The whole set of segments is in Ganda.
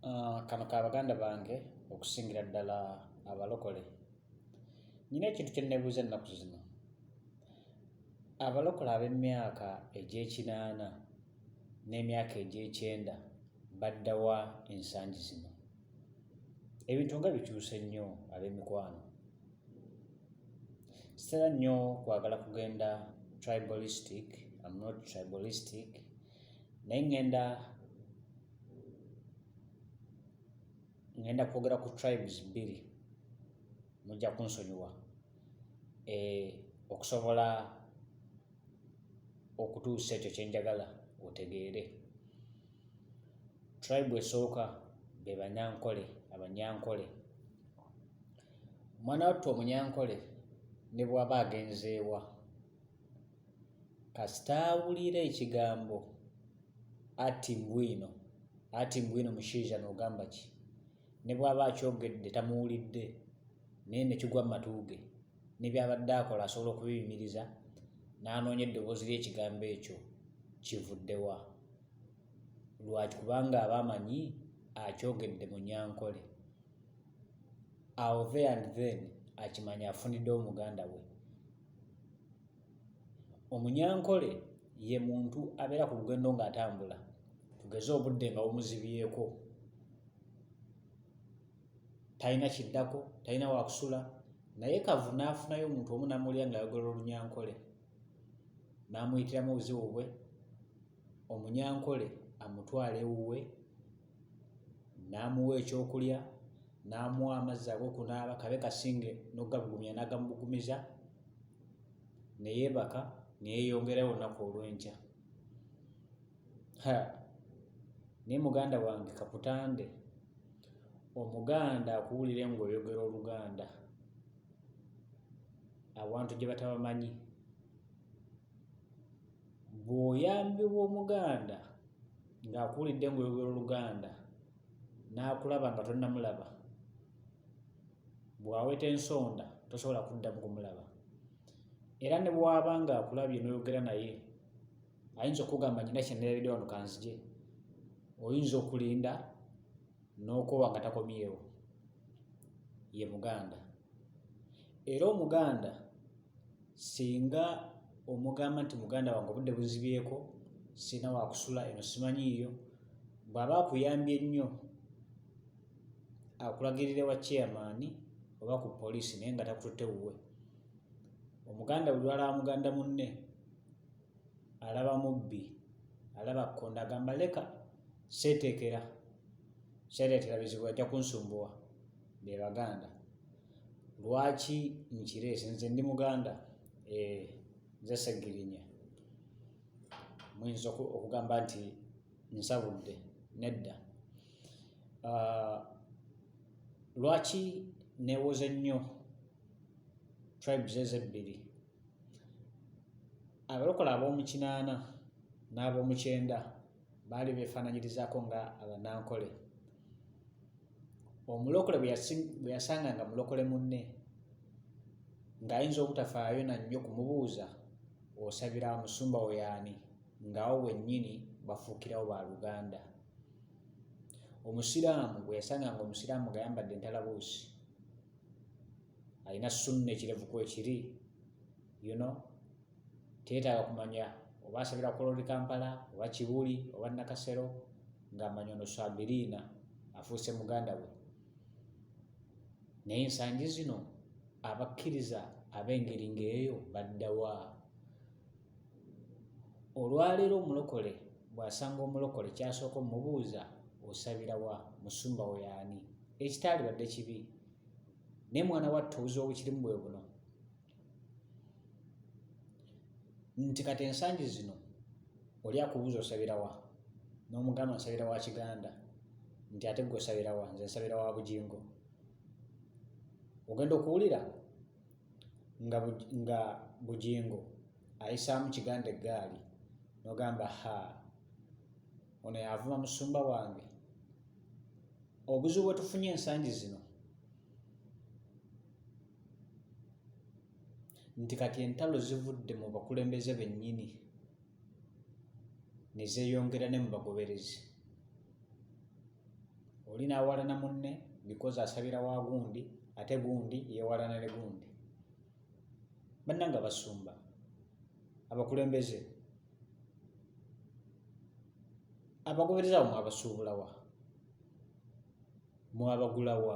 Ah, kano ka baganda bange okusingira ddala abalokole nyina ekintu kyennebuuza ennaku zino abalokole ab'emyaka egy'ekinaana n'emyaka egy'ekyenda baddawa ensangi zino ebintu nga bikyuse nnyo ab'emikwano sitera nnyo kwagala kugenda tribalistic am not tribalistic naye ŋŋenda ŋŋenda kwogera ku tribes bbiri mujja kunsonyiwa e, okusobola okutuusa ekyo kye njagala otegeere tribe esooka be banyankole abanyankole omwana wattu omunyankole ne bw'aba agenzeewa kasita awulira ekigambo ati mbwino ati mbwino mushaija nogamba ki ne bwaba akyogedde tamuwulidde naye nekigwa mu matu ge ne byabadde akola asobola okubiyimiriza n'anoonya eddoboozi ly'ekigambo ekyo kivuddewa lwaki kubanga aba amanyi akyogedde mu nyankole awo the and then akimanya afunidde omuganda we omunyankole ye muntu abeera ku lugendo ng'atambula tugeze obudde nga bumuzibyeko talina kiddako talina wakusula naye kavu n'afunayo omuntu omu namulya ng'ayogera olunyankole n'amuyitiramu obuzibu bwe omunyankole amutwala ewuwe n'amuwa ekyokulya n'amuwa amazzi ag'okunaaba kabe kasinge n'okugabugumya n'agamubugumiza ne yeebaka ne yeeyongerayo olunaku olw'enkya naye muganda wange kakutande omuganda akuwulire ng'oyogera oluganda abantu gye batabamanyi bw'oyambibwa omuganda ng'akuwulidde ng'oyogera oluganda n'akulaba nga tonnamulaba bw'aweta ensonda tosobola kuddamu kumulaba era ne bw'aba ng'akulabye n'oyogera naye ayinza okugamba nyina kyeneeredde wano kanzije oyinza okulinda n'okoowa nga takomyewo ye muganda era omuganda singa omugamba nti muganda wange obudde buzibyeko sirina wakusula eno simanyiiyo bw'aba akuyambye nnyo akulagirire wa chairman oba ku poliisi naye nga takututte wuwe omuganda buli lwalaba muganda munne alaba mubbi alaba kkonda agamba leka seeteekera seereetera bizibu ajja kunsumbuwa be baganda lwaki nkireese nze ndi muganda eh, nze segirinya muyinza okugamba nti nsabudde nedda ah, lwaki newoza ennyo tribes ezo ebbiri abalokola ab'omukinaana n'ab'omukyenda baali beefaananyirizaako nga abanankole omulokole bwe yasanga nga mulokole munne ng'ayinza obutafaayo na nnyo kumubuuza osabira musumba weyaani ng'awo wennyini bafuukirawo ba luganda omusiraamu bwe yasanga nga omusiraamu nga yambadde entalabuusi alina sunna ekirevuku ekiri you know teetaaga kumanya oba asabira kuloli kampala oba kibuli oba nakasero ng'amanya ono swabiriina afuuse muganda we naye ensangi zino abakkiriza ab'engeri ng'eyo baddawa Olwaleero omulokole bw'asanga omulokole ky'asooka omubuuza osabira wa, musumba wo y'ani? Ekitaalibadde kibi naye mwana wattu obuzibu obukirimu bwe buno nti kati ensangi zino oli akubuuza osabira wa n'omugamba nsabira wa kiganda nti ate gwe osabira wa nze nsabira wa bugingo ogenda okuwulira nga, nga bugingo ayisaamu kiganda eggaali nogamba ha ono yavuma musumba wange obuzibu bwetufunye ensangi zino nti kati entalo zivudde mu bakulembeze bennyini ne zeeyongera ne mu bagoberezi oli n'awalana munne bikozi asabira wa gundi ate gundi yeewalana ne gundi bannanga basumba abakulembeze abagobereza awo mwabasuubulawa mwabagulawa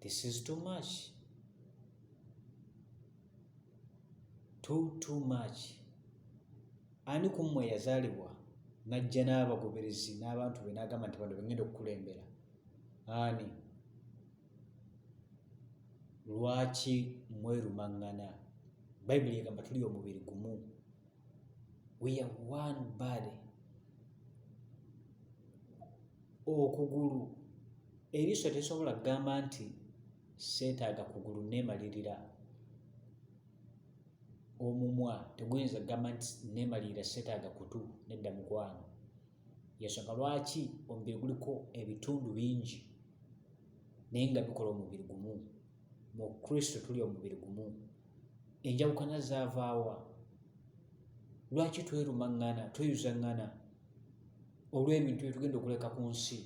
This is too much. Too, too much. Ani ku mmwe yazaalibwa n'ajja n'abagoberezi n'abantu be n'agamba nti bano bengenda okukulembera? Ani? Lwaki mwerumaŋŋana? Bayibuli egamba tuli omubiri gumu. We are one body. okugulu eriiso tesobola kugamba nti seetaaga kugulu neemalirira omumwa teguyinza kugamba nti neemalirira seetaaga kutu nedda mukwano yensonga lwaki omubiri guliko ebitundu bingi naye nga bikola omubiri gumu mu kristo tuli omubiri gumu enjawukana zaavaawa lwaki twerumaŋŋana tweyuzaŋŋana olw'ebintu bye tugenda okuleka ku nsi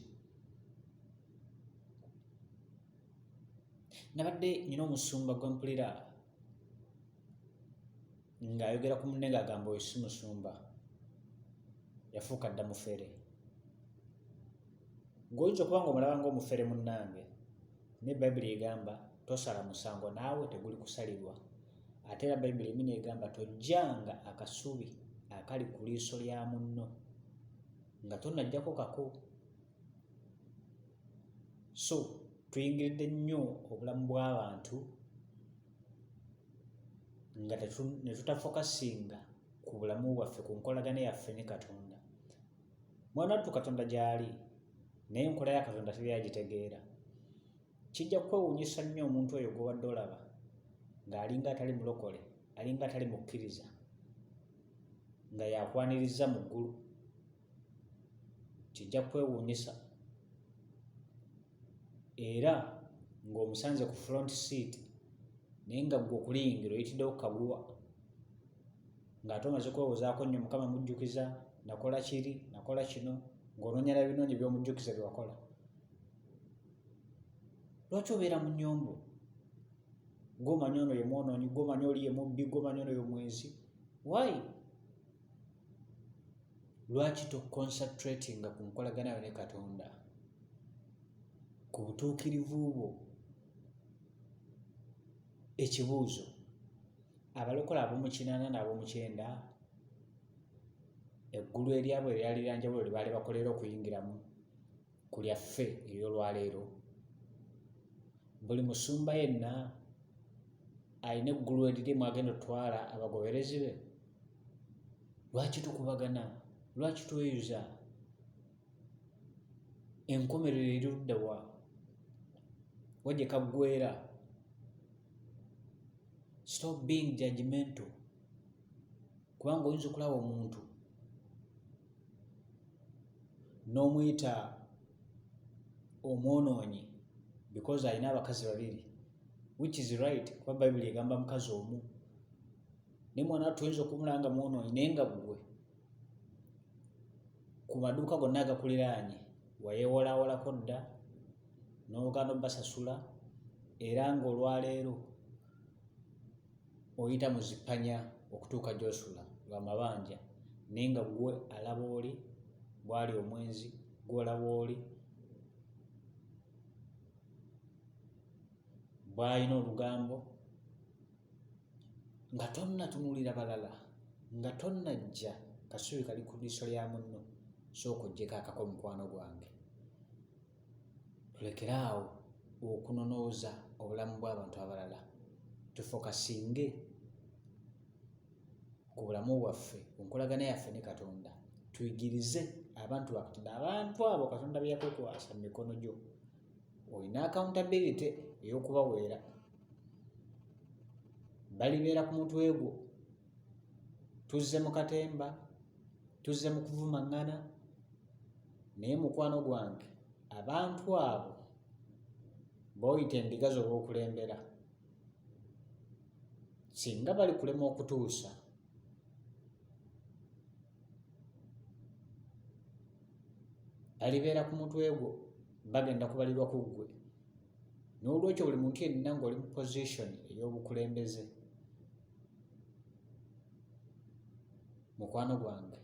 nabadde nyina omusumba gwe mpulira ng'ayogera ku munne ng'agamba oyo si musumba yafuuka dda mufere ng'oyinza okuba ng'omulaba ng'omufere munnange naye bayibuli egamba tosala musango naawe teguli kusalirwa ate era bayibuli emi negamba tojjanga akasubi akali ku liiso lya munno nga tonajjako kako so tuyingiridde nnyo obulamu bw'abantu nga netutafokasinga ku bulamu bwaffe ku nkolagana yaffe ne katonda mwanattu katonda gyali naye enkola ya katonda teri agitegeera Kijja kukwewuunyisa nnyo omuntu oyo gw'obadde olaba ng'alinga atali mulokole, alinga atali mukkiriza, nga yakwanirizza mu ggulu. Kijja kukwewuunyisa era ng'omusanze ku front seat naye nga ggwe okuliyingira oyitiddewo ku kaguwa ng'ate omaze kwewozaako nnyo mukama mujjukiza nakola kiri nakola kino ng'onoonya na binoonyi by'omujjukiza bye wakola lwaki obeera mu nyombo gomanya ono ye mwonoonyi gomanya oli ye mubbi gomanya ono ye mwenzi why lwaki toconcentratinga ku nkolagana yo ne katonda ku butuukirivu bwo ekibuuzo abalokola ab'omukinaana n'ab'omukyenda eggulu eryabwe eryalira njawulo lye baali bakolera okuyingiramu ku lyaffe ery'olwaleero buli musumba yenna alina eggulu eriri mwagenda otwala abagoberezi be lwaki tukubagana lwaki tweyuza enkomerero eri luddawa wajja kaggwera stop being judgmental kubanga oyinza okulaba omuntu n'omuyita omwonoonyi because alina abakazi babiri which is right kuba bayibuli egamba mukazi omu naye mwana watu oyinza okumula nga mwonoonyi naye nga gwe ku maduuka gonna agakuliraanye wayewolawolako dda n'ogaana obbasasula era ng'olwaleero Oyita mu zi panya okutuuka gy'osula lwa mabanja, naye nga ggwe alaba oli bw'ali omwenzi, ggwe olaba oli bw'alina olugambo, nga tonnatunuulira balala, nga tonnajja kasubi kali ku liiso lya munno, sooka oggyeko akako mukwano gwange. tulekere awo okunonooza obulamu bw'abantu abalala tufokasinge ku bulamu bwaffe ku nkolagana yaffe ne katonda tuyigirize abantu bakatonda abantu abo katonda beyakukwasa mu mikono gyo olina accountability ey'okubaweera balibeera ku mutwe gwo tuzze mu katemba tuzze mu kuvumaŋŋana naye mukwano gwange abantu abo booyita endiga z'obwokulembera singa bali kulema okutuusa balibeera ku mutwe gwo bagenda kubalirwa ku ggwe n'olwekyo buli muntu yenna ng'oli mu position ey'obukulembeze mukwano gwange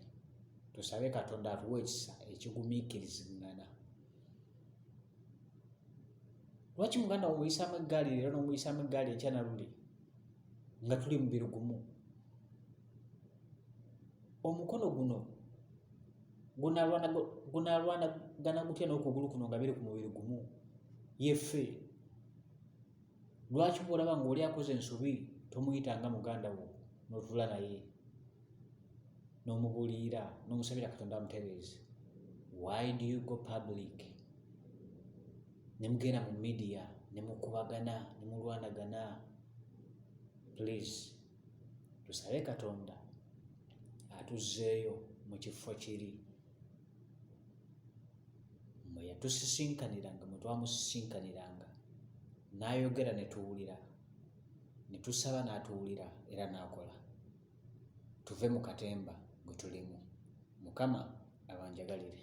tusabe katonda atuwa ekisa ekigumiikirizingana lwaki muganda omuyisaamu eggaali leero n'omuyisaamu eggaali enkya naluli nga tuli mubirugumu omukono guno gunalwanagana gutya n'okugulu kuno nga biri ku mubiri gumu yefe lwaki bwolaba ngaoli akoze ensobi tomuyita nga muganda wo notula naye n'omubuliira n'omusabira katonda amutereeze why do you go public ne mugenda mu midiya ne mukubagana ne mulwanagana please tusabe katonda atuzzeeyo mu kifo kiri mwe yatusisinkaniranga mwe twamusisinkaniranga n'ayogera ne tuwulira ne tusaba n'atuwulira era n'akola tuve mu katemba gwe tulimu mukama abanjagalire